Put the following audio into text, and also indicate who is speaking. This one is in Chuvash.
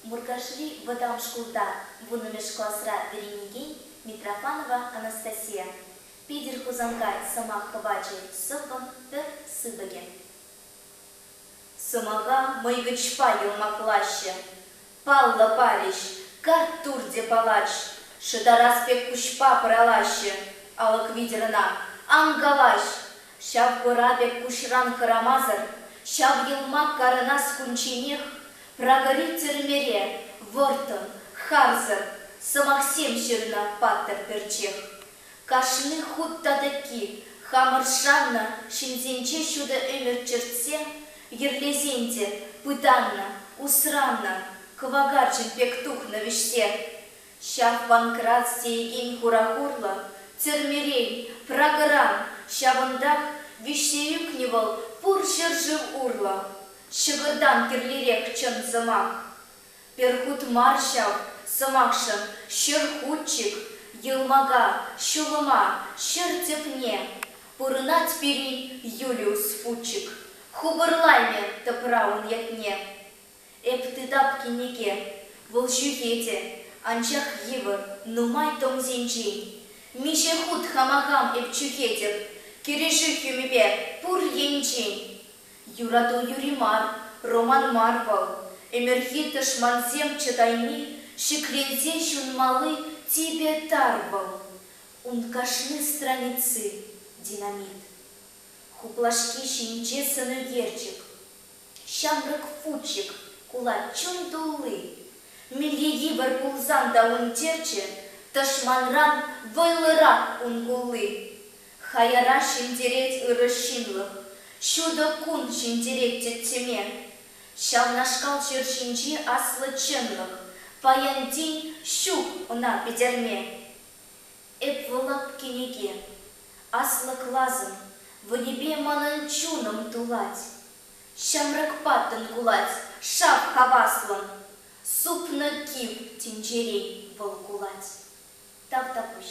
Speaker 1: Муркашри вӑтам шкулта вуннӑмӗш класра вӗренекен Митрофанова Анастасия Питӗр Хусанкай сӑмах пӑвачӗ сӑввӑн пӗр сыпӑкӗ. Сӑмаха мӑйвӗҫпа йӑлмаклаҫҫӗ, паллӑ парӗҫ, карттур те палач, шӑтарас пек куҫпа пӑралаҫҫӗ, алӑк витӗр ӑна ан калаҫ, Ҫав хӑра пек куҫран хӑрамасӑр ҫав йӑлмак карӑнас кунчченех Прагӑри тӗрмере вӑрттӑн, харсӑр сӑмахсем ҫырнӑ паттӑр пӗрчех. Кашни хут татӑкки хамӑр шаннӑ ҫынсенче ҫутӑ ӗмӗт чӗртсе йӗрлесен те пытаннӑ, усраннӑ, кӑвакарчӑн пек тухнӑ вӗҫсе. Ҫак Панкрат сеекен хурахурлӑ тӗрмерен, Прагӑран, ҫавӑнтах виҫсе ӳкнӗ вӑл пур ҫӗршыв урлӑ. Ҫӑкӑртан кирлирех чӑн сӑмах. Пӗр хут мар ҫав сӑмахшӑн ҫӗр хутчик, йӑлмака, ҫулӑма, ҫӗр тӗпне. Пурӑнать пирӗн Юлиус Фучик, хупӑрлаймӗ тӑпра ун ятне. Эп тытап кӗнеке. Вӑл ҫӳхете, анчах йывӑр, нумай томсенчен. Миҫе хут хама хам эп чӳхетӗп кӗрешӳ хӳмипе пур енчен. Юрату юри мар, роман мар вӑл, ӗмӗрхи тӑшмансем чӑтайми ҫӗкленсе ҫунмалли типӗ тар вӑл. Ун кашни страници, динамит. Хуплашки ҫинче сӑн ӳкерчӗк. Ҫамрӑк футчик кулать чун тулли. Милте йывӑр пулсан та ун черчӗ тӑшманран вӑйлӑрах ун кулли. Хаяра ҫӗнтерет ырӑ ҫынлӑх, ҫутӑ кун ҫӗнтерет тӗттӗме. Ҫавнашкал ҫӗр ҫинчи аслӑ чӑнлӑх паянтин ҫук ӑна пӗтерме. Эп вӑлат кӗнеке, аслӑ класӑм, вӑйӗпе манӑн чунӑм тулать. Ҫамрӑк паттӑн кулать шап хаваслӑн, супнӑ кив тӗнчерен вӑл кулать. Тавтапуҫ.